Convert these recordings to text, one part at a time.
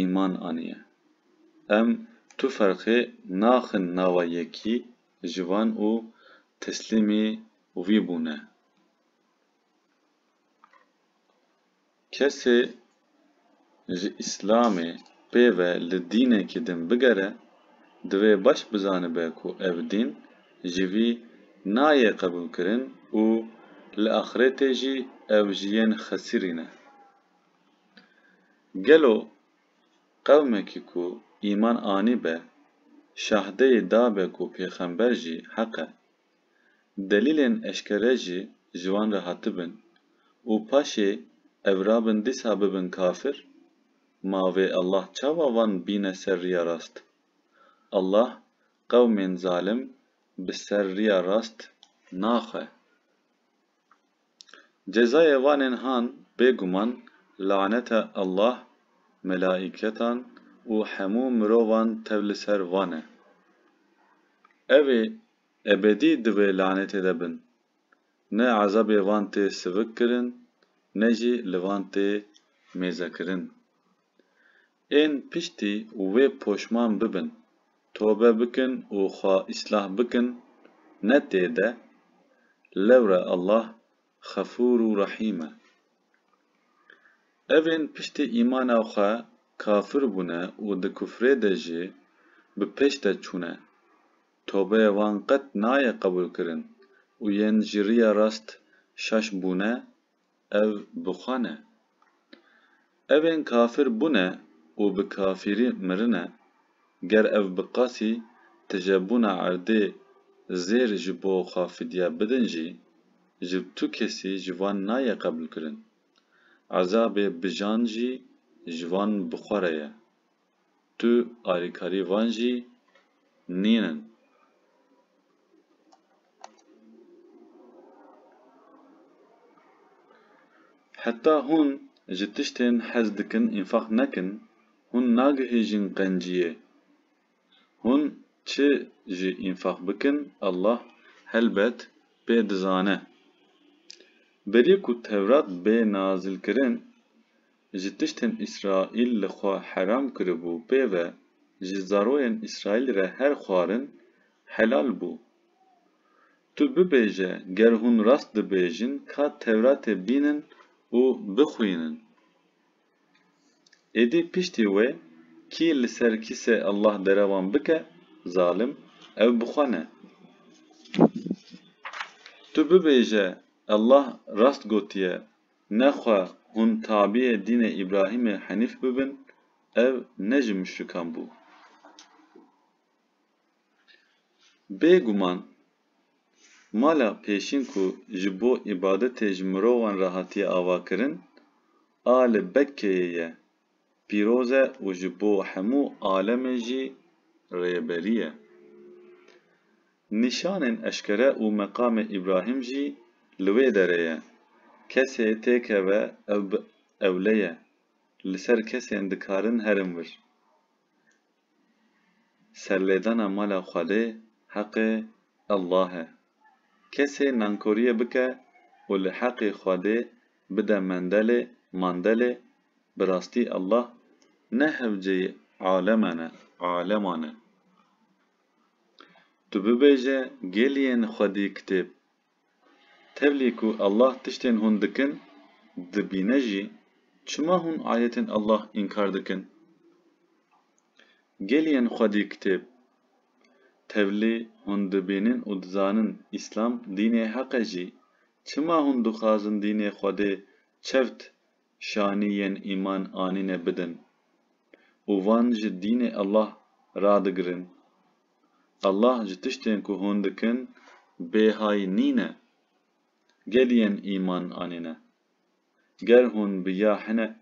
îman aniye. Em tu ferqê naxin nava yekî ji van û teslîmî wî bûne. Kesê ji îslamê pê ve li dînekî din bigere, divê baş bizanibe ku ev dîn ji vî nayê qebûlkirin û li axirêtê jî ew ji yên xesirî ne. Gelo qewmekî ku îman anîbe, şahdeyî dabe ku pêxember jî heq e? Delîlên eşkere jî ji wan re hatibin û paşê ev rabin dîsa bibin kafir? Ma vê Allah çawa van bîne ser riya rast? Allah qewmên zalim bi ser riya rast naxe. Cezayê vanên han bêguman laneta Allah, melaîketan û hemû mirovan tev li ser van e. Ev ê ebedî di vê lanetê de bin. Ne ezabê van tê sivikkirin ne jî li van tê mêzekirin. Ên piştî wê poşman bibin, tobe bikin û xwe îslah bikin, ne tê de, lewre Allah Xefûr û Rehîm e. Evên piştî îmana xwe kafir bûne û di kufrê de jî bi pêş de çûne, tobeyê wan qet nayê qebûlkirin û yên ji riya rast şaş bûne, ev bi xwe ne. Ev ên kafir bûne û bi kafirî mirine, ger ev bi qasî tijebûna erdê zêr ji bo xwe fidye bidin jî, ji tu kesî ji van nayê qebûlkirin. Ezabê bijan jî ji van bi xwe re ye. tu alîkarî van jî nîn in. Heta hûn ji tiştên hez dikin înfaq nekin, hûn nagihîjin qenciyê. Hûn çi jî înfaq bikin Allah helbet pê dizane. Berî ku Tewrat bê nazilkirin, Ji tiştên Îsraîl li xwe heram kiribû pê ve ji zaroyên Îsraîlî re her xwarin helal bû. Tu bibêje ger hûn rast dibêjin ka Tewratê bînin û bixwînin. Êdî piştî wê kî li ser kîsê Allah derewan bike zalim ew bi xwe ne. Tu bibêje Allah rast gotiye Ne xwe hûn tabîyê dînê Îbrahîmê Henîf bibin, ev ne ji muşrikan bû. Bê guman mala pêşîn ku ji bo îbadetê ji mirovan re hatiye avakirin, a li Bekkeyê ye pîroz e û ji bo hemû alemê jî rêberî ye. Nîşanên eşkere û meqamê Îbrahîm jî li wê derê ye. Kesê têkeve ew bi ewle ye, li ser kesên dikarin herin wir. Serlêdana mala Xwedê heqê Allah e. Kesê nankoriyê bike û li heqê Xwedê bide mendelê, mandelê, bi rastî Allah ne hewceyê aleman e, aleman e. Tu bibêje gêliyên xwedî kitêb Tevlî ku Allah tiştên hûn dikin dibîne jî, çima hûn ayetên Allah înkar dikin? Gelî yên xwedî kitêb? Tevlî hûn dibînin û dizanin Îslam dînê heq e jî, çima hûn dixwazin dînê Xwedê çewt şanî yên îman anîne bidin û van ji dînê Allah radigirin? Allah ji tiştên ku hûn dikin bêhay nîne. Gel yên îman anîne. Ger hûn bi ya hinek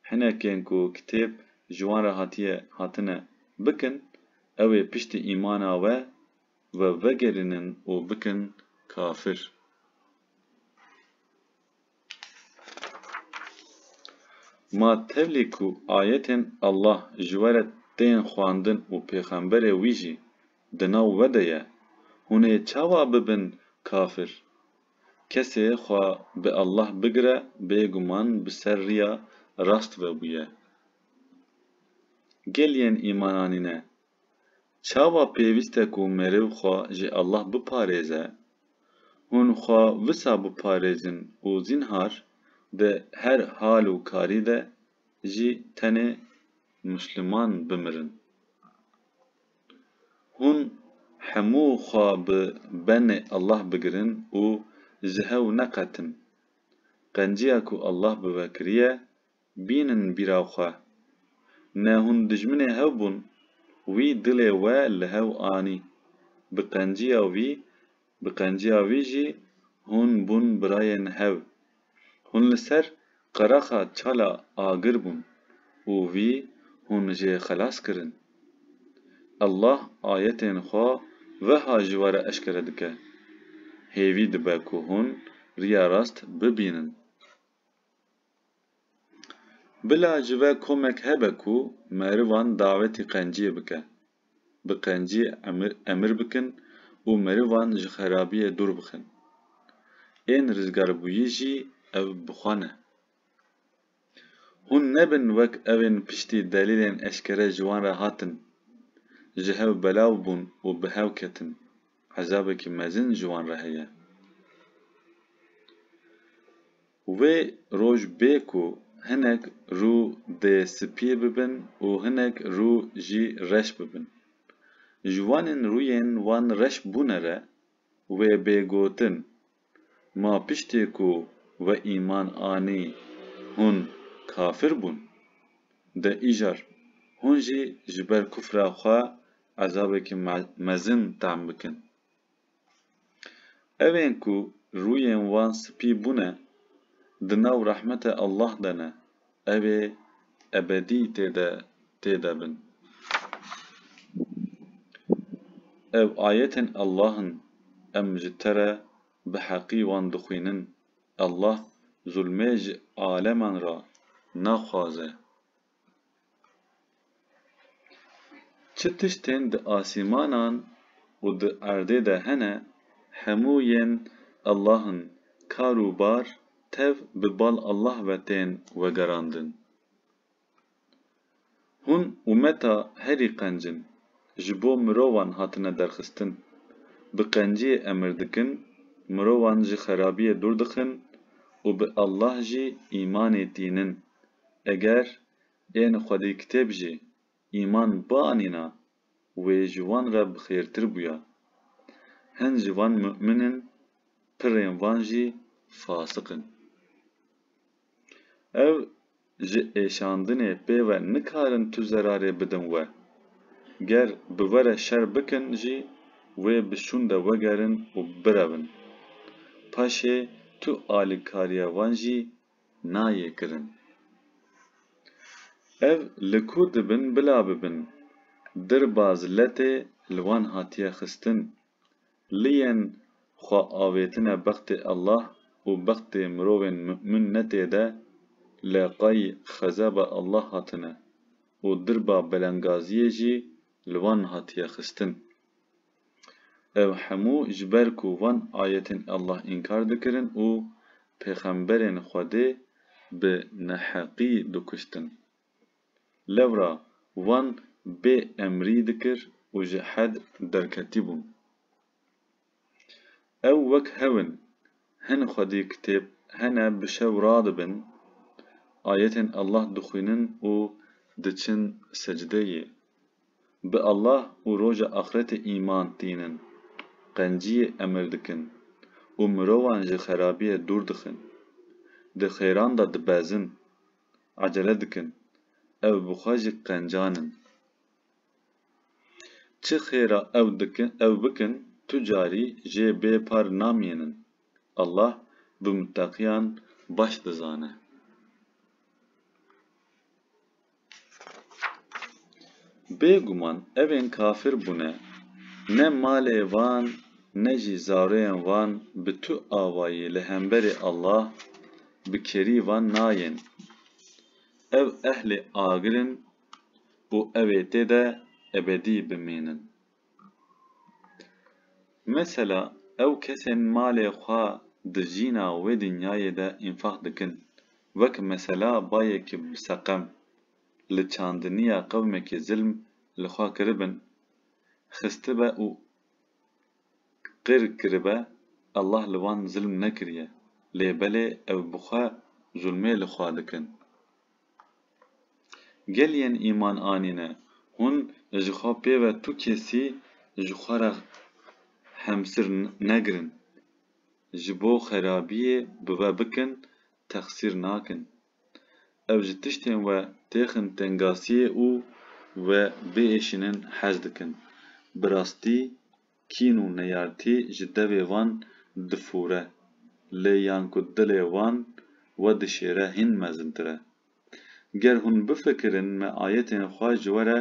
hinekên ku kitêb ji wan re hatiye hatine bikin, ew ê piştî îmana we we vegerînin û bikin kafir. Ma tevlî ku ayetên Allah ji we re tên xwendin û pêxemberê wî jî di nav we de ye, hûn ê çawa bibin kafir? Kesê xwe bi Allah bigire bêguman bi ser riya rast ve bûye. Gel yên îman anîne Çawa pêwîst e ku merêv xwe ji Allah biparêze? Hûn xwe wisa biparêzin û zînhar di her hal û karî de jî tenê Musliman bimirin? Hûn hemû xwe bi benê Allah bigirin û ji hew neqetin? Qenciya ku Allah bi we kiriye Bînin bîra xwe. Ne hûn dijminê hev bûn. Wî dilê we li hev anî. Bi qenciya wî, bi qenciya wî jî hûn bûn birayên hev. Hûn li ser qeraxa çala agir bûn û wî hûn jê xelas kirin. Allah ayetên xwe weha ji we re eşkere dike, Hêvî dibe ku hûn riya rast bibînin. Bila ji ve komek hebe ku merivan dawetî qenciyê bike. Bi qencî emir bikin û merivan ji xerabiyê dûr bixin. Ên rizgarbûyî jî ev bi xwe ne. Hûn nebin wek evên piştî delîlên eşkere ji wan re hatin, ji hev belav bûn û bi hev ketin, ezabekî mezin ji wan re heye. Wê roj bê ku hinek rû dê spî bibin û hinek rû jî reş bibin. Ji wanên rûyên wan reş bûne re wê bê gotin, Ma piştê ku we îman anî hûn kafir bûn? De îcar hûn jî ji ber kufra xwe ezabekî mezin tam bikin. Ev ên ku rûyên wan spî bûne, di nav rehmete Allah de ne, ew ê ebedî tê de tê de bin. Ev ayetên Allah in, em ji te re bi heqî wan dixwînin. Allah zulmê ji aleman re naxwaze. Çi tiştên di asîmanan û di erdê de hene, hemû yên Allah in, kar û bar tev bi bal Allah ve tên wegerandin. Hûn umeta herî qenc in, ji bo mirovan hatine derxistin. Bi qenciyê emir dikin, mirovan ji xerabiyê dûr dixin û bi Allah jî îmanê tînin. Eger ên xwedîkitêb jî îman bianîna wê ji wan re bi xêrtir bûya. Hin ji van mu'min in, pirên van jî fasik in. Ew ji êşandinê pê ve nikarin tu zerarê bidin we. Ger bi we re şer bikin jî wê bi şûn de wegerin û birevin. Paşê tu alîkariya van jî nayê kirin. Ev li ku dibin bila bibin, dirbaz letê li wan hatiye xistin. Liyên xwe avêtine bextê Allah û bextê mirovên mu'min ne tê de, leqay xezeba Allah hatine û dirba belengaziyê jî li wan hatiye xistin. Ev hemû ji ber ku van ayetên Allah înkar dikirin û pêxemberên Xwedê bi neheqî dikuştin. Lewra van bê emrî dikir û ji hed derketîbûn. Ew wek hev in, hin Xwedî kitêb hene bi şev radibin, ayetên Allah dixwînin û diçin secdeyê. bi Allah û roja axretê îman tînin, qenciyê emir dikin û mirovan ji xerabiyê dûr dixin, di xêran de dibezin, ecele dikin, ev bi xwe jî qencan in. Çi xêra ew dikin, ew bikin, tu carî jê bê par namînin. Allah bi muteqiyan baş dizane. Bêguman evên kafir bûne, ne malê van ne jî zaroyên van bi tu avayî li hemberî Allah bi kerî van nayên. Ev ehlê agir in û ew ê tê de ebedî bimînin. Mesela ew kesên malê xwe di jîna wê dinyayê de înfaq dikin, wek mesela bayekî bi seqem, li çandiniya qewmekî zilm li xwe kiribin, xistibe û qir kiribe, Allah li wan zilm nekiriye, lê belê ew bi xwe zulmê li xwe dikin. Gel yên îman anîne, hûn ji xwe pê ve tu kesî ji xwe re hemsir negirin, ji bo xerabiyê bi ve bikin texsîr nakin. Ew ji tiştên we têxin tengasiyê û we biêşînin hez dikin. Bi rastî kîn û neyartî ji devê wan difûre, lê yan ku dilê wan we dişêre hîn mezintir e. Ger hûn bifikirin me ayetên xwe ji we re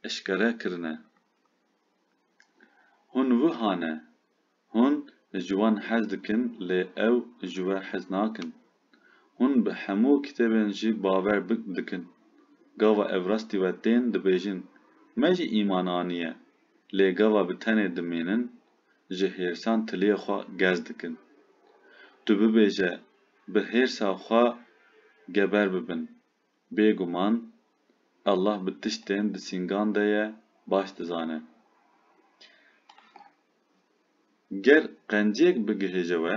eşkere kirine. Hûn wiha ne, hûn ji wan hez dikin lê ew ji we hez nakin. Hûn bi hemû kitêbên jî bawer dikin. Gava ev rastî we tên dibêjin, me jî îman aniye, lê gava bi tenê dimînin, ji hêrsan tiliyê xwe gez dikin. Tu bibêje bi hêrsa xwe geber bibin. Bêguman Allah bi tiştên di sîngan de ye baş dizane. Ger qenciyek bigihêje we,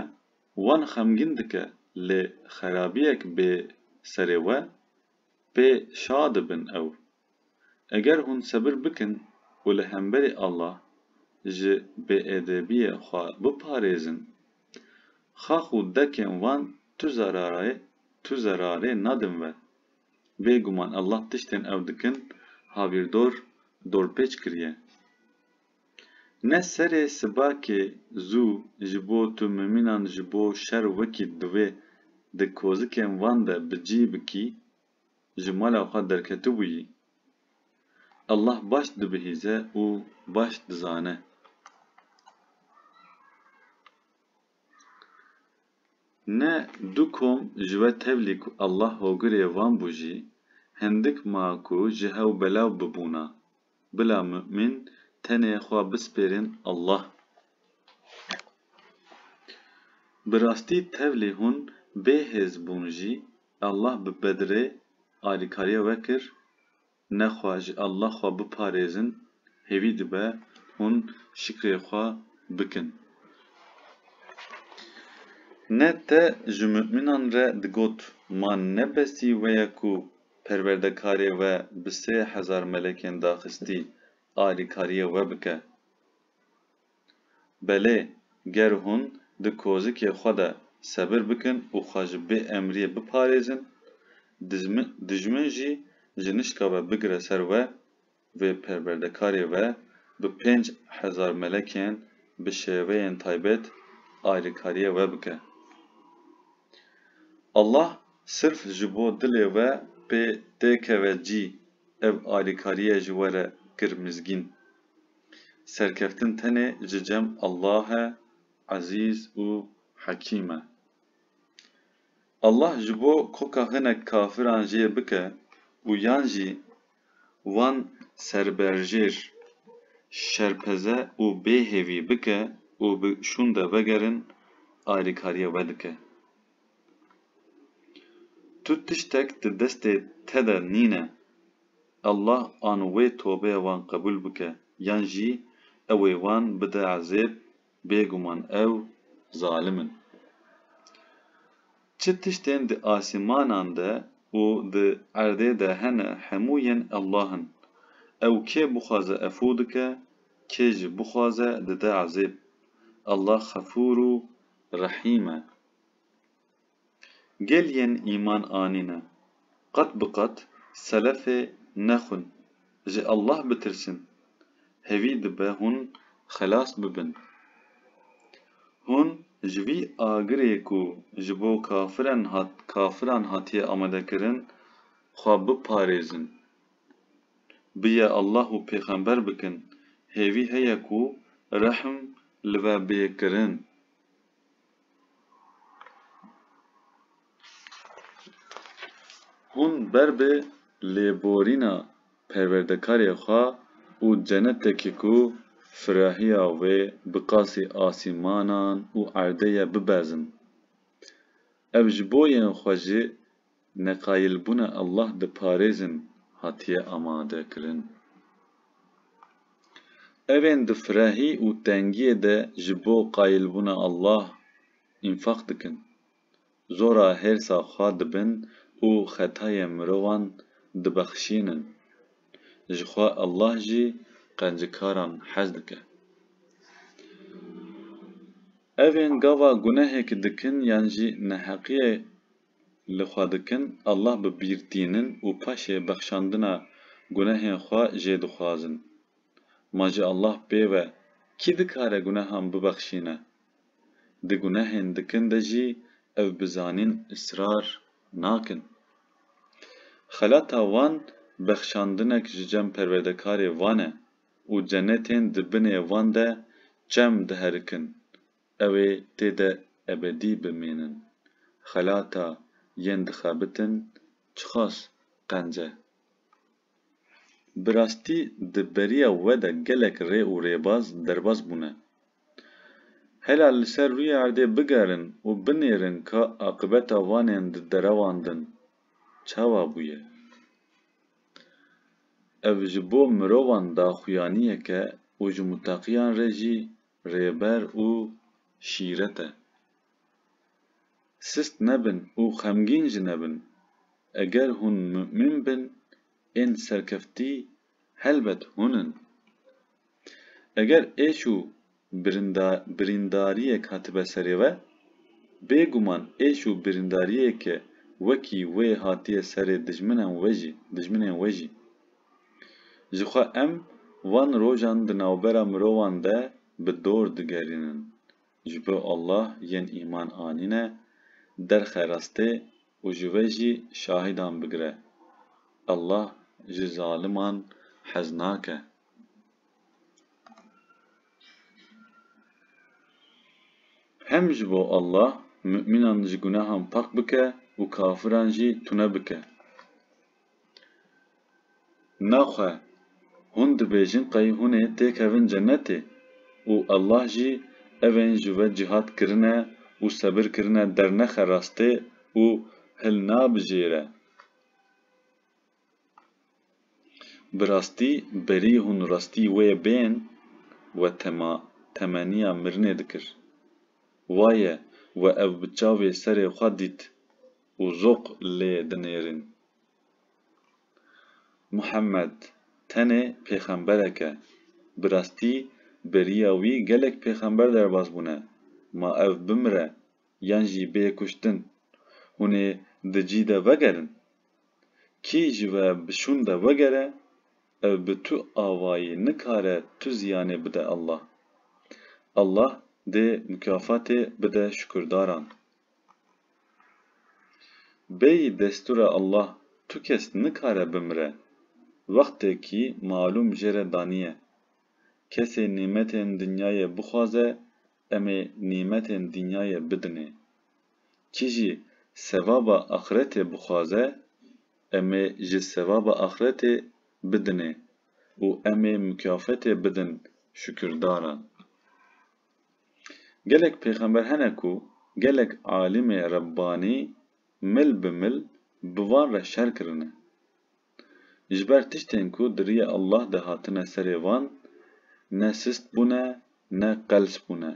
Wan xemgîn dike lê xerabiyek bê serê we, pê şa dibin ew. Eger hûn sebir bikin û li hemberî Allah ji bêêdêbiyê xwe biparêzin, xax û dekên wan tu zerarê tu zerarê nadin we. Bêguman Allah tiştên ew dikin havîrdor dorpêç kiriye. Ne serê sibakê zû ji bo tu mimînan ji bo şer wekî divê di kozikên van de bi cî bikî, ji mala xwe derketibûyî. Allah baş dibihîze û baş dizane. Ne du kom ji we tevlî ku Allah hogirê van bû jî, hindik ma ku ji hew belav bibûna. Bila mu'min tenê xwe bispêrên Allah. Bi rastî tevlî hûn bê hêz bûn jî Allah bi Bedrê alîkariya we kir, ne xwe ji Allah xwe biparêzin hêvî dibe hûn şikrê xwe bikin. Ne te ji mu'minan re digot ma ne besî we ye ku Perwerdekarê we bi sê hezar melekên daxistî alîkariyê we bike. Belê ger hûn di kozikê xwe de sebir bikin û xwe ji bêemriyê biparêzin, dijmin jî ji nişka we bigire ser we, vê perwerdekarê ve bi pênc hezar melekên bi şêweyên taybet ayrîkariyê we bike. Allah sirf ji bo dilê we pê tê keve cî ev ayrîkariye ji we re kir mizgîn. Serkeftin tenê ji cem Allah e Ezîz û Hekîm e. Allah ji bo koka hinek kafiran jê bike û yan jî Wan serberjêr şerpeze û bêhêvî bike û bi şûnde vegerin alîkariye wedike. Tu tiştek di destê te de nîne, Allah an wê tobeya wan qebûl bike yan jî ew ê wan bide ezêb Bêguman ew zalim in. Çi tiştên di asîmanan de û di erdê de hene hemû yên Allah in. Ew kê bixwaze efû dike, kê jî bixwaze dide ezêb. Allah Xefûr û Rehîm e. Gel yên îman anîne, qet bi qet selefê nexwin, ji Allah bitirsin, hevî dibe hûn xelas bibin. Hûn ji vî agirê ku ji bo kafiren hat kafiran hatiye amadekirin xwe biparêzin. Biye Allah û pêxember bikin, hêvî heye ku rehm li ve bê kirin. Hûn ber bi lêborîna perwerdekarê xwe û cenetekî ku firahiya wê bi qasî asîmanan û erdê ye bibezin. Ev ji bo yên xwe jî neqayilbûna Allah diparêzin hatiye amadekirin. Evên di firehî û tengiyê de ji bo qayilbûna Allah înfaq dikin, zora hêrsa xwe dibin û xetayên mirovan dibexşînin. Jixwe Allah jî qencikaran hez dike. Evên gava gunehekî dikin yan jî neheqiyê li xwe dikin, Allah bi bîr tînin û paşê bexşandina gunehên xwe jê dixwazin. Ma ji Allah pê ve kî dikare gunehan bibexşîne? Di gunehên dikin de jî ev bi zanîn israr nakin. Xelata wan bexşandinek ji cem perwerdekarê wan e û cenetên di binê wan de çem diherikin Ew ê tê de ebedî bimînin. Xelata yên dixebitin çiqas qenc e. Bi rastî di beriya we de gelek rê û rêbaz derbas bûne. Hela li ser rûyê erdê bigerin û binêrin ka aqibeta vanên di derewandin çawa bûye. Ev ji bo mirovan daxuyaniyek e û ji mutaqiyan re jî Rêber û şîret e. Sist nebin û xemgîn jî nebin. Eger hûn mumîn bin, ên serkeftî helbet hûn in. Eger êş û birîndariyek hatibe serê we, bêguman êş û birîndariyeke wekî wê hatiye serê dijminen we jî, dijminên we jî. Jixwe em van rojan di navbera mirovan de bi dor digerînin, ji bo Allah yên îman anîne derxe rastê û ji we jî şahîdan bigire. Allah ji zaliman hez nake. Hem ji bo Allah mumînan ji gunehan pak bike û kafiran jî tune bike. Naxwe, hûn dibêjin qey hûn ê têkevin cenetê û Allah jî evên ji we cihad kirine û sebir kirine dernexe rastê û hilnabijêre. Bi rastî berî hûn rastî wê bên we tema temeniya mirinê dikir. Waye we ew bi çavê serê xwe dît. û zoq lê dinêrîn. Muhemmed tenê pêxemberek e. Bi rastî beriya wî gelek pêxember derbas bûne, ma ev bimire yan jî bê kuştin, hûn ê di cî de vegerin. Kî ji we bi şûn de wegere, ev bi tu avayî nikare tu ziyanê bide Allah. Allah dê mukâfatê bide şukurdaran. Bêyî destûra Allah tu kes nikare bimire, wextekî malûm jê re daniye. Kesê nîmetên dinyayê bixwaze em ê nîmetên dinyayê bidinê. Kî jî sevaba axretê bixwaze em ê ji sevaba axretê bidinê û em ê mukafetê bidin şukirdaran. Gelek pêxember hene ku gelek alîmê Rebbanî mil bi mil bi van re şer kirine. Ji ber tiştên ku di riyê Allah de hatine serê van ne sist bûne ne qels bûne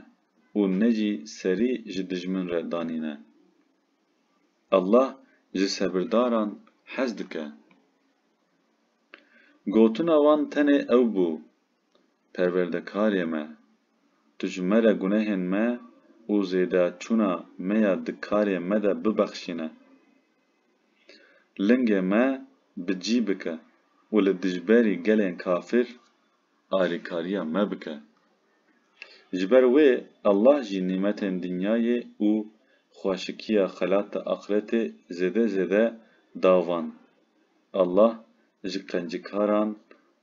û ne jî serî ji dijmin re danîne. Allah ji sebirdaran hez dike. Gotina wan tenê ew bû Perwerdekarê me! Tu ji me re gunehên me û zêdeçûna me ya di karê me de bibexşîne. Lingê me bi cî bike û li dijberî gelên kafir alîkariya me bike. Ji ber wê Allah jî nîmetên dinyayê û xweşikiya xelat-i axretê zêde zêde da van. Allah ji qencikaran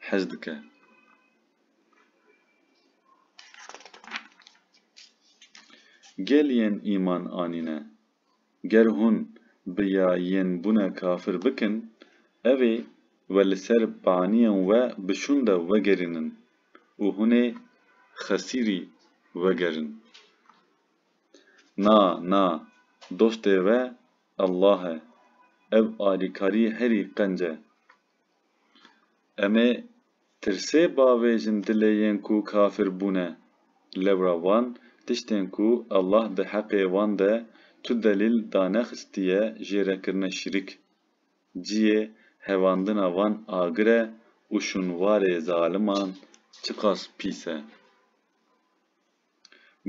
hez dike. Gel yên îman anîne, ger hûn bi ya yên bûne kafir bikin, ev ê we li ser baniyên we bi şûn de wegerînin û hûn ê xesîrî wegerin. Na, na, dostê we Allah e. Ev alîkarî herî qenc e. Em ê tirsê bavêjin dilê yên ku kafir bûne. Lewra wan tiştên ku Allah di heqê wan de tu delîl danexistiye jê re kirine şirik. Ciyê hevandina van agir e û şûnwarê zaliman çiqas pîs e.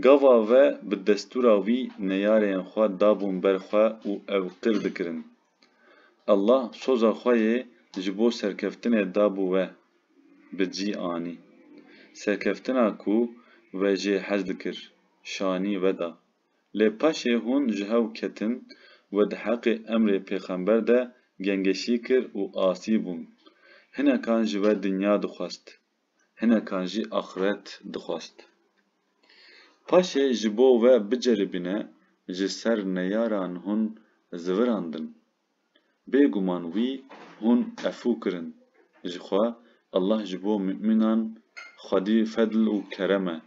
Gava ve bi destûra wî neyareyên xwe dabûn ber xwe û ew qir dikirin. Allah soza xwe yê ji bo serkeftinê dabû we, bi cî anî. Serkeftina ku we jê hez dikir, şanî veda. Lê paşê hûn ji hev ketin, we di heqê emrê pêxember de gengeşî kir û asî bûn. Hinekan ji we dinya dixwest. hinekan jî axiret dixwest. Paşê ji bo we biceribîne ji ser neyaran hûn zivirandin. Bêguman wî hûn efû kirin. Jixwe Allah ji bo mumînan xwedî fedl û kerem e.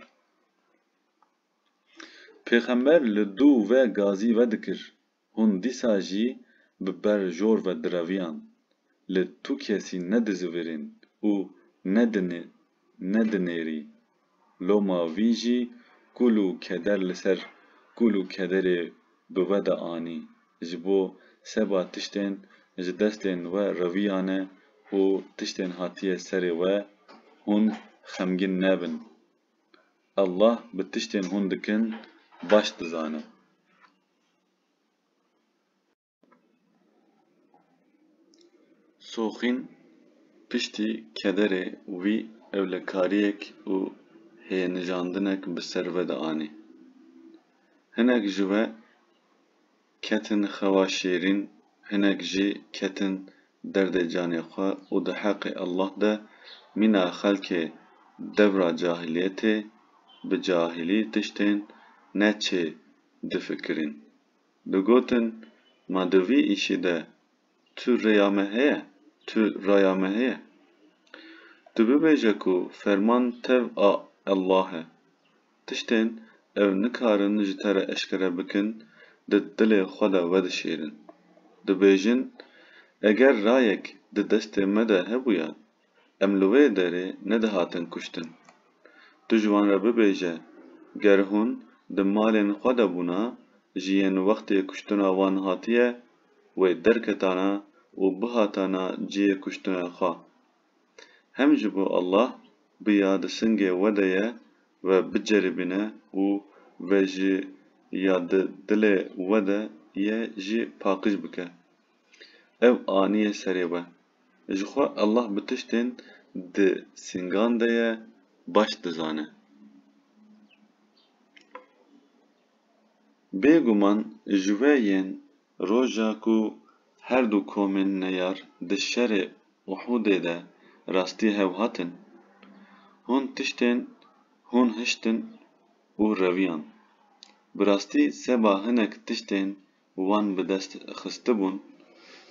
Pêxember li dû ve gazî vedikir. Hûn dîsa jî bi ber jor ve direviyan, li tu kesî nedizivîrîn û nedinêrî. Loma vî jî kûl û keder li ser kûl û kederê bi we de anî, ji bo seba tiştên ji destên we reviyane û tiştên hatiye serê we, hûn xemgîn nebin. Allah bi tiştên hûn dikin baş dizane. Soxîn piştî kederê wî ewlekariyek û hênijandinek bi ser ve de anî. Hinek ji we ketin xewa şêrîn, hinek jî ketin derdê canê xwe û di heqê Allah de mîna xelkê devra cahiliyetê bi cahilî tiştên ne çê difikirîn. Bi gotin ma di vî îşî de tu rêya me heye, tu raya me heye. Tu bibêje ku ferman tev a Ellahê. Tiştên ew nikarin ji te re eşkere bikin di dilê xwe de vedişêrin. Dibêjin, Eger rayek di destê me de hebûya Em li wê derê nedihatin kuştin. Tu ji wan re bibêje, ger hûn di malên xwe de bûna, ji yên wextê kuştina wan hatiye wê derketana û bihatana cihê kuştina xwe. Hem ji bo Allah biya di singê we de ye we biceribîne û ve ji ya di dilê we de ye jî paqij bike. Ew aniye serê we. Ji xwe Allah bi tiştên di sîngan de ye baş dizane. Bêguman ji we yên roja ku her du komên neyar di şerê Uhudê de rastî hev hatin, hûn tiştên hûn hiştin û reviyan. Bi rastî seba hinek tiştên wan bi dest xistibûn,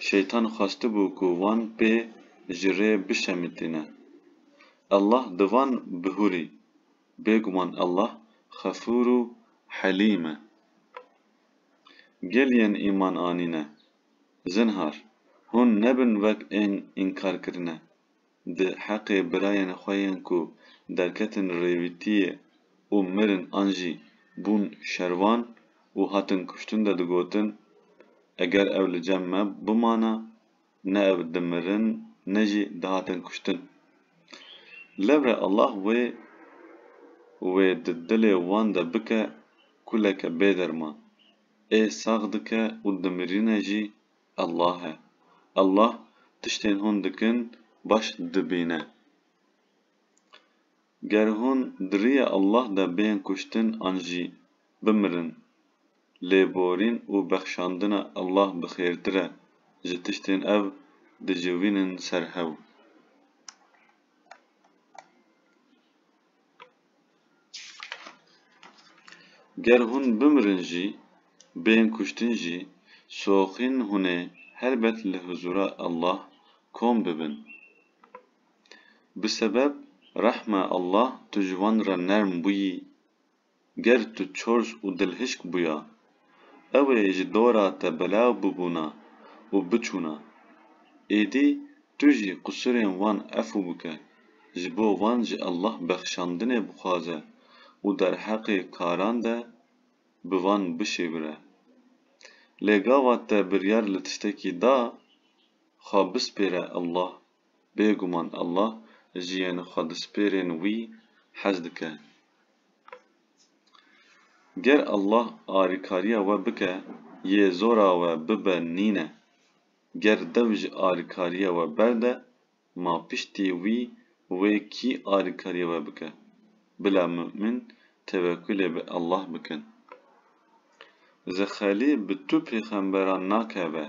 Şeytan xwestibû ku wan pê ji rê bişemitîne. Allah di van bihûrî, Bêguman Allah Xefûr û Helîm e. Gel yên îman anîne, zinhar, hûn nebin wek ên înkarkirine, Di heqê birayên xwe yên ku derketin rêwîtiyê û mirin an jî bûn şervan û hatin kuştin de digotin, Eger ew li cem me bimana, ne ev dimirin ne jî dihatin kuştin. Lewre Allah wê wê di dilê wan de bike kuleke bêderman. Ê sax dike û dimirîne jî Allah e. Allah tiştên hûn dikin baş dibîne. Ger hûn di rîya Allah de bên kuştin an jî bimirin, lêborîn û bexşandina Allah bi xêrtir e ji tiştên ev diciwînin ser hew. Ger hûn bimirin jî, bên kuştin jî, soxîn hûn ê helbet li huzûra Allah kom bibin. Bi sebeb rehma Allah tu ji wan re nerm bûyî. Ger tu çors û dilhişk bûya, Ew ê ji dora te belav bibûna û biçûna. Êdî tu jî qusûrên wan efû bike, ji bo wan ji Allah bexşandinê bixwaze û derheqê karan de bi van bişêwire. Lê gava te biryar li tiştekî da, xwe bispêre Allah, bêguman Allah ji yên xwedispêrên wî hez dike. Ger Allah alîkariya we bike yê zora we bibe nîne. Ger dew ji alîkariya we berde ma piştî wî wê kî alîkariya we bike. Bila mu'min tewekulê bi Allah bikin. Zexelî bi tu pêxemberan nakeve.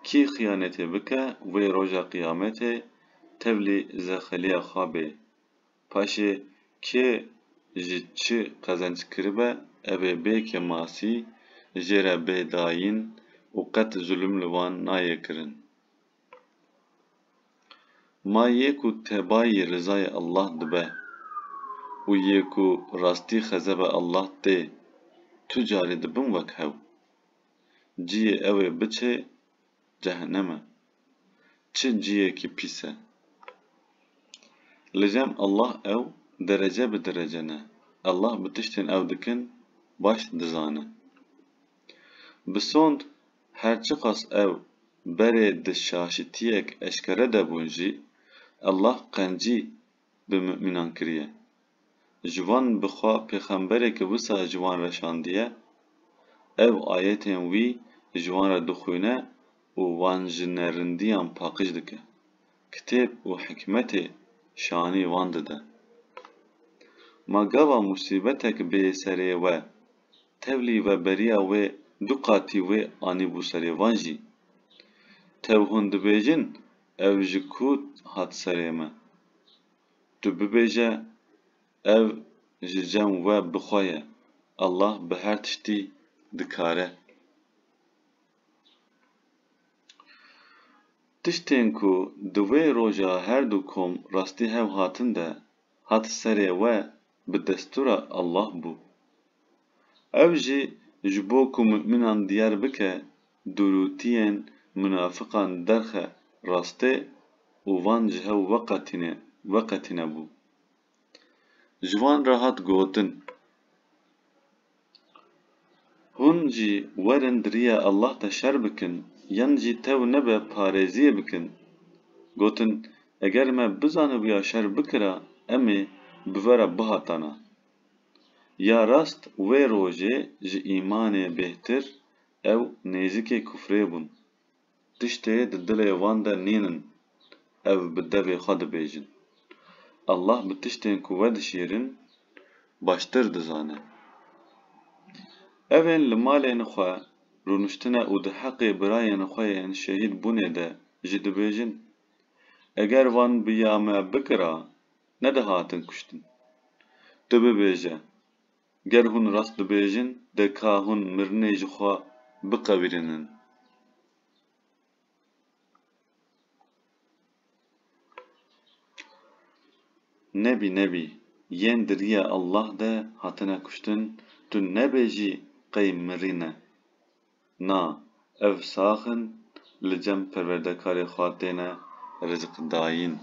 Kî xiyanetê bike wê roja qiyametê tevlî zexeliya xwe bê. Paşê kê ji çi qezenc kiribe ev ê bê kemasî, jê re bê dayîn û qet zulm li wan nayê kirin. Ma yê ku tebayî rizayê Allah dibe û yê ku rastî xezeba Allah tê, tu carî dibim wek hew. Ciyê ew ê biçê cehennem e. Çi ciyekî pîs e. Li cem Allah ew derece bi derece ne. Allah bi tiştên ew dikin baş dizane. Bi sond her çiqas ew berê di şaşitiyek eşkere de bûn jî, Allah qencî bi mumînan kiriye. Ji wan bi xwe pêxemberêke wisa ji wan re şandiye, ev ayetên wî ji wan re dixwîne û wan ji nerindiyan paqij dike, kitêb û hikmetê şanî wan dide. Ma gava musîbetek bê serê we, tevlî veberiya wê du qatî wê anîbû serê wan jî. Tev hûn dibêjin Ev ji ku hat serê me? Tu bibêje ev ji cem we bi xwe ye, Allah bi her tiştî dikar e. Tiştên ku di wê roja her du kom rastî hev hatin de hat serê we bi destûra Allah bû. Ev jî ji bo ku mumînan diyar bike Durûtiyên minafiqan derxe rastê û van ji hev veqetîne, veqetîne bû. Ji wan re hat gotin, Hûn jî werin di riya Allah de şer bikin yan jî tew nebe parêziyê bikin. Gotin, Eger me bizanibûya şer bikira em ê bi ve re bihatana. Ya rast wê rojê ji îmanê bêhtir ew nêzîkê kufrê bûn. Tiştê di dilê wan de nîn in ev bi devê xwe dibêjin. Allah bi tiştên ku vedişîrin baştir dizane. Evên li malên xwe rûniştine û di heqê birayên xwe yên şehîd bûnê de jî dibêjin, Eger van bi ya me bikira, nedihatin kuştin. Tu bibêje, Ger hûn rast bibêjin de ka hûn mirinê ji xwe biqewirînin. Nebî nebî, yên di riya Allah de hatine kuştin, tu nebêjî qey mirîne. Na, ev sax in li cem perwerdekarê xwe têne rizqdayîn.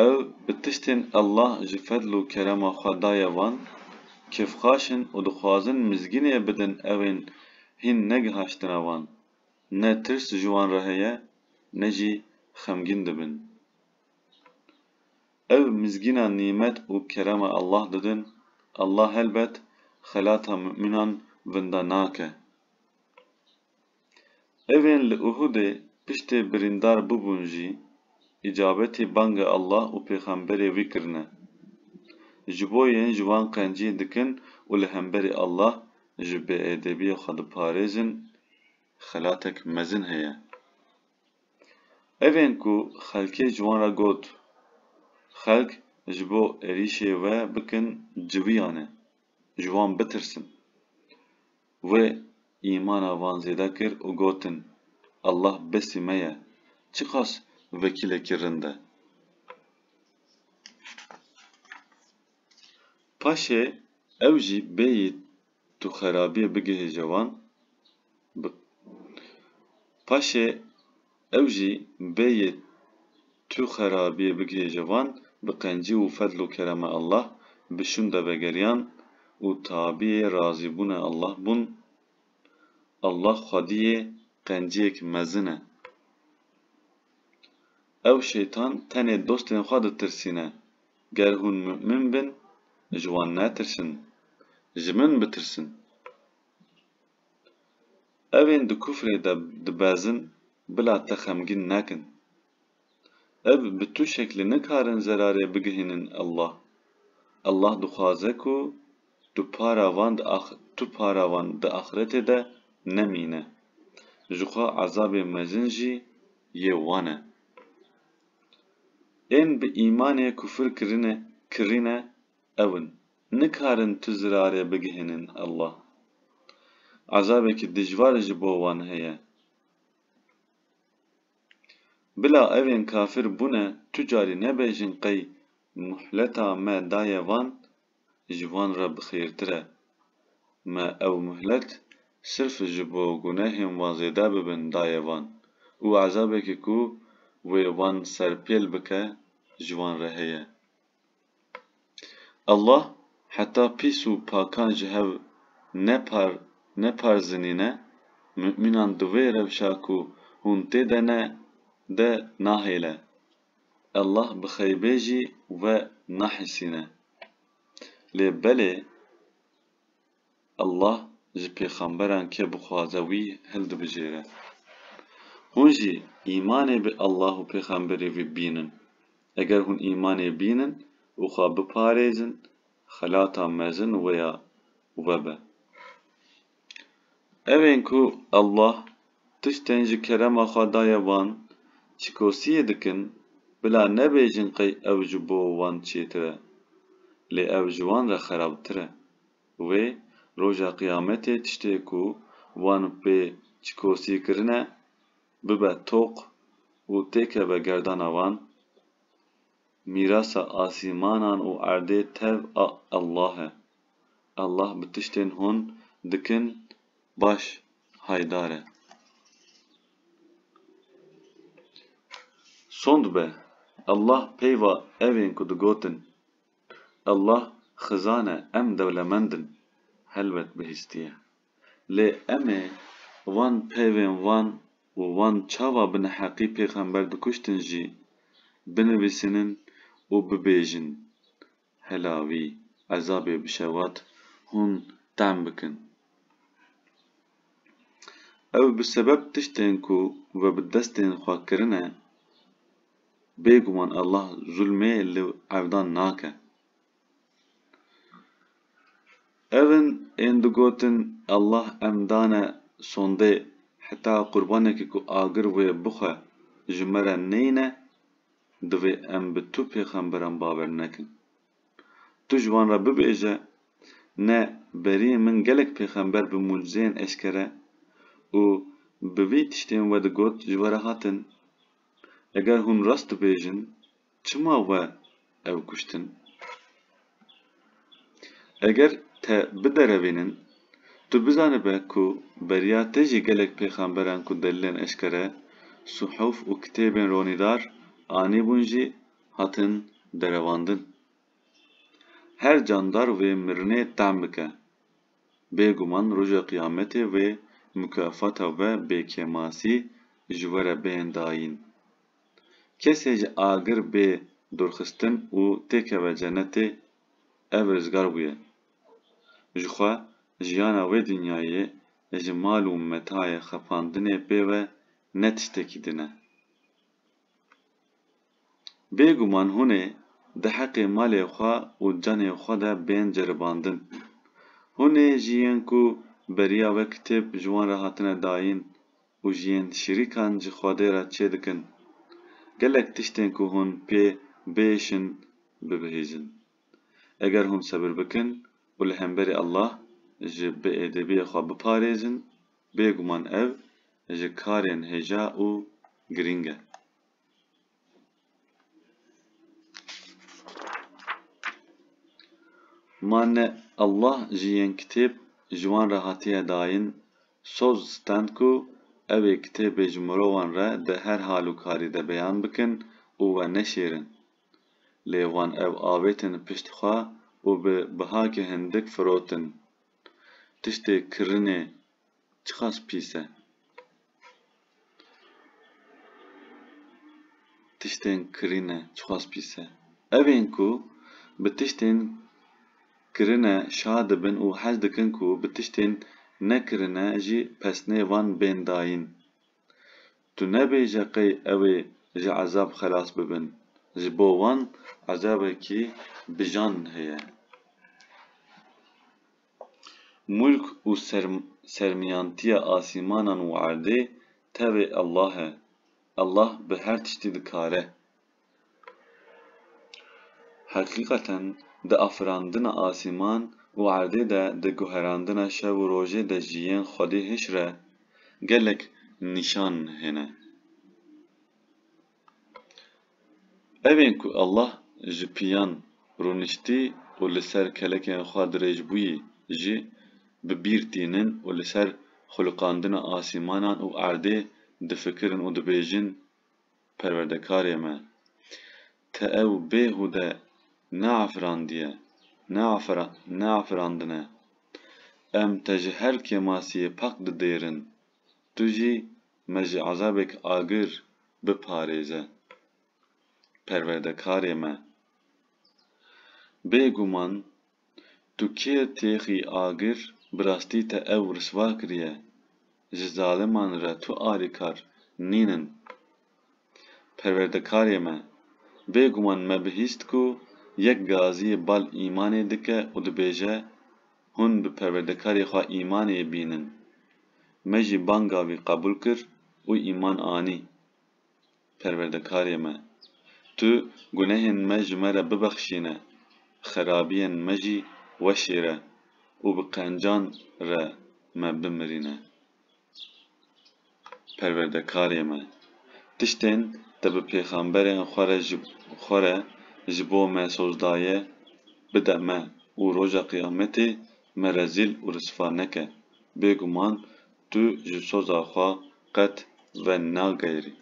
Ew bi tiştên Allah ji fedl û kerema xwe daye wan, kêfxaş in û dixwazin mizgînê bidin ewên hîn negihaştine wan. Ne tirs ji wan re heye ne jî xemgîn dibin. Ev mizgînan nîmet û kerema Allah didin, Allah helbet xelata mu'minan winda nake. Evên li Uhudê piştê birîndar bûbûn jî îcabetî banga Allah û pêxemberê wî kirine. Ji bo yên ji wan qencî dikin û li hemberî Allah ji bêêdebiyê xwe diparêzin xelatek mezin heye. Ev ên ku xelkê ji wan re got, xelk ji bo êrîşê wê bikin ciwiyan e, ji wan bitirsin. Wê îmana van zêde kir û gotin, Allah besî me ye, çiqas vekîlekî rind e. Paşê ew jî bêyî Tu xerabiyê bigihêje wan bi paşê ew jî bê yê tu xerabiyê bigihêje wan bi qencî û fedl û kerema Allah bi şûnde vegeriyan û tabiyê razîbûna Allah bûn. Allah xwediyê qenciyêk mezin e. Ew şeytan tenê dostên xwe ditirsîne. Ger hûn mu'min bin, ji wan netirsin, ji min bitirsin. Evên di kufrê de dibezin bila te xemgîn nekin. Ev bi tu şeklî nikarin zerarê bigihînin Allah. Allah dixwaze ku tu para van di tu para wan di axretê de nemîne. Jixwe ezabê mezin jî yê wan e. Ên bi îmanê kufir kirine kirîne ew in, nikarin tu zirarê bigihînin Allah. Ezabekî dijwar ji bo wan heye. Bila evên kafir bûne tu carî nebêjin qey muhleta me daye van ji wan re bi xêrtir e. Me ew muhlet sirf ji bo gunehên wan zêde bibin daye wan û ezabekî ku wê wan serpêl bike ji wan re heye. Allah heta pîs û pakan ji hev nepar neparzinîne, mumînan di wê rewşa ku hûn tê de ne de nahêle Allah bi xeybê jî we nahîsîne. Lê belê Allah ji pêxemberan ke bixwaze wî hildibijêre. Hûn jî îmanê bi Allah û pêxemberê wî bînin. Eger hûn îmanê bînin û xwe biparêzin, xelata mezin wê ya we be. Ev ên ku Allah tiştên ji kerema xwe daye wan çikosiyê dikin, bila nebêjin qey ew ji bo wan çêtir e. Lê ew ji wan re xerabtir e. Wê Roja Qiyametê tiştê ku wan pê çikosî kirine, bibe toq û têkeve gerdana wan. Mîrasa asîmanan û erdê tev a Allah e. Allah bi tiştên hûn dikin baş haydar e. Sond be! Allah peyva evên ku digotin, Allah xizan e em dewlemend in, helbet bihîstiye. Lê em ê van peyvên van û van çava bi neheqî pêxember dikuştin jî binivîsînin û bibêjin, Hela wî ezabê bi şewat hûn tehm bikin. Ew bi sebeb tiştên ku ve bi destên xwe kirine, bêguman Allah zulmê li evdan nake. Ev in ên digotin Allah em dane sondê heta qurbanekî ku agir wê bixwe ji me re neyne divê em bi tu pêxemberan bawer nekin. Tu ji wan re bibêje, ne beriyê min gelek pêxember bi mucizeyên eşkere û bi vî tiştên we digot ji we re hatin. Eger hûn rast dibêjin, Çima we ew kuştin? Eger te biderevînin, tu bizanibe ku beriya te jî gelek pêxemberan ku delîlên eşkere, suhuf û kitêbên ronîdar anîbûn jî hatin derevandin. Her candar vê mirinê tehm bike. Bêguman Roja Qiyametê vê mukafata we bêkêmasî ji we re bên dayîn. Kesê ji agir bê dorxistin û têkeve cenetê ev rizgar bûye. Ji xwe, jiyana wê dinyayê, ji mal û metayê xepandinê pê ve ne tiştekî din e. Bê guman hûn ê di heqê malê xwe û canê xwe de bên ceribandin. Hûn ê jî yên ku beriya wê kitêb ji wan re hatine dayîn, û ji yên şirîkan ji Xwedê re çê dikin, gelek tiştên ku hûn pê biêşin bibihîzin. Eger hûn sebir bikin û li hemberî Allah ji biêdêbiyê xwe biparêzin, bêguman ev ji karên hêja û girîng e. Ma ne Allah jî yên kitêb ji wan re hatiye dayin, soz stend ku ew ê kitêbê ji mirovan re di her hal û karî de beyan bikin û we neşêrin. Lê wan ew avêtin pişt xwe û bi bihakê hindik firotin. Tiştê kirinê çiqas pîs e. Tiştên kirîne çiqas pîs e. Ev ên ku bi tiştên kirine şa dibin û hez dikin ku bi tiştên nekirine jî pesnê van bên dayîn. Tu nebêje qey ew ê ji ezab xelas bibin. Ji bo wan ezabekî bijan heye. Mulk û sermiyantiya asîmanan û erdê tevê Allah e. Allah bi her tiştî dikare. Heqîqeten di afirandina asîman û erdê de, di guherandina şev û rojê de jî yên Xwedê hişr e gelek nîşan hene. Ev ên ku Allah ji piyan rûniştî û li ser kelekên xwe dirêj bûyî jî bi bîr tînin û li ser xulqandina asîmanan û erdê difikirin û dibêjin, Perwerdekarê me! Te ew bêhûde neafirandiye, neafirandine. Em te ji her kêmasiyê pak didêrin. Tu jî me ji ezabek agir biparêze. Perwerdekarê me! Bê guman tu kê têxî agir bi rastî te ew risva kiriye, ji zaliman re tu alîkar nînin. Perwerdekarê me! Bê guman me bihîst ku yek gazî bal îmanê dike û dibêje, Hûn bi Perwerdekarê xwe îmanê bînin. Me jî banga wî qebûl kir û îman anî. Perwerdekarê me! Tu gunehên me ji me re bibexşîne, xerabiyên me jî weşêre û bi qencan re me bimirîne. Perwerdekarê me! Tiştên te bi pêxemberên xwe re ji xwe re ji bo me soz daye, bide me û Roja Qiyametê Me rezîl û risva neke. Bêguman tu ji soza xwe qet venageyirî.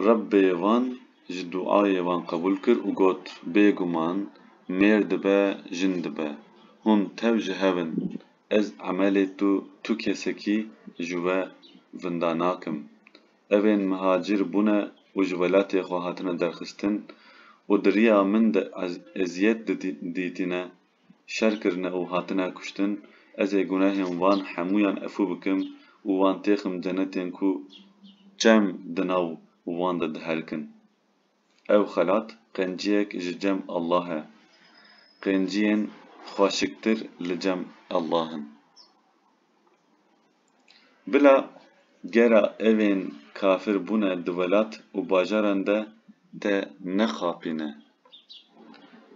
Rebbê wan ji duayê wan qebûl kir û got, Bêguman mêr dibe, jin dibe. Hûn tev ji hev in. Ez emelê tu tu kesekî ji we vinda nakim. Ev ên mihacîr bûne û ji welatê xwe hatine derxistin û di riya min de eziyet dîtîne, şer kirine û hatine kuştin, ez ê gunehên wan hemûyan efû bikim û wan têxim cenetên ku çem di nav wan de diherkin. Ev xelat qenciyek ji cem Allah e. Qenciyên xweşiktir li cem Allah in. Bila gera evên kafir bûne di welat û bajaran de te nexapîne.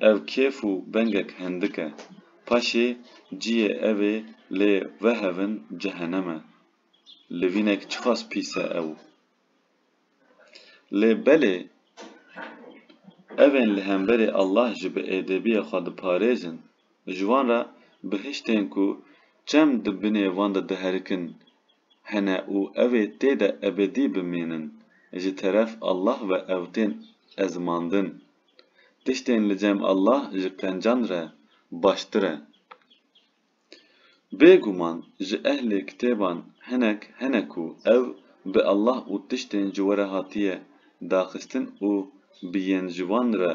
Ev kêf û bengek hindik e. Paşê ciyê evê lê vehevin cehenem e. Livînek çiqas pîs e ew. Lê belê evên li hemberî Allah jî bi êdebiyê xwe diparêzin, ji wan re bihiştên ku çem di binê wan de diherikin hene û ew ê tê de ebedî bimînin, ji teref Allah ve ew tên ezimandin. Tiştên li cem Allah ji qencan re baştir e. Bêguman ji ehlê kitêban hinek hene ku ev bi Allah û tiştên ji we re hatiye daxistin û bi yên ji wan re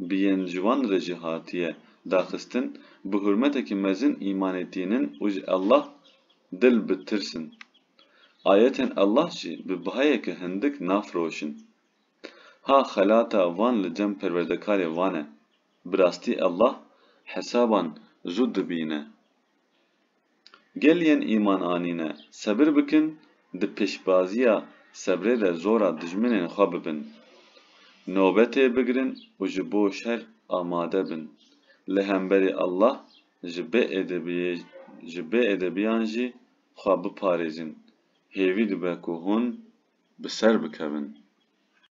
bi yên ji wan re jî hatiye daxistin bi hurmetekî mezin îmanê tînin û ji Allah dil bi tirsin. Ayetên Allah jî bi bihayeke hindik nafiroşin. Ha xelata van li cem perwerdekarê van e. Bi rastî Allah hesaban zû dibîne. Gel yên îman anîne sebir bikin di pêşbaziya sebrê de zora dijminên xwe bibin. Nobetê bigirin û ji bo şer amade bin. Li hemberî Allah ji bêedebiyê ji bêedebiyan jî xwe biparêzin. Hêvî dibe ku hûn bi ser bikevin.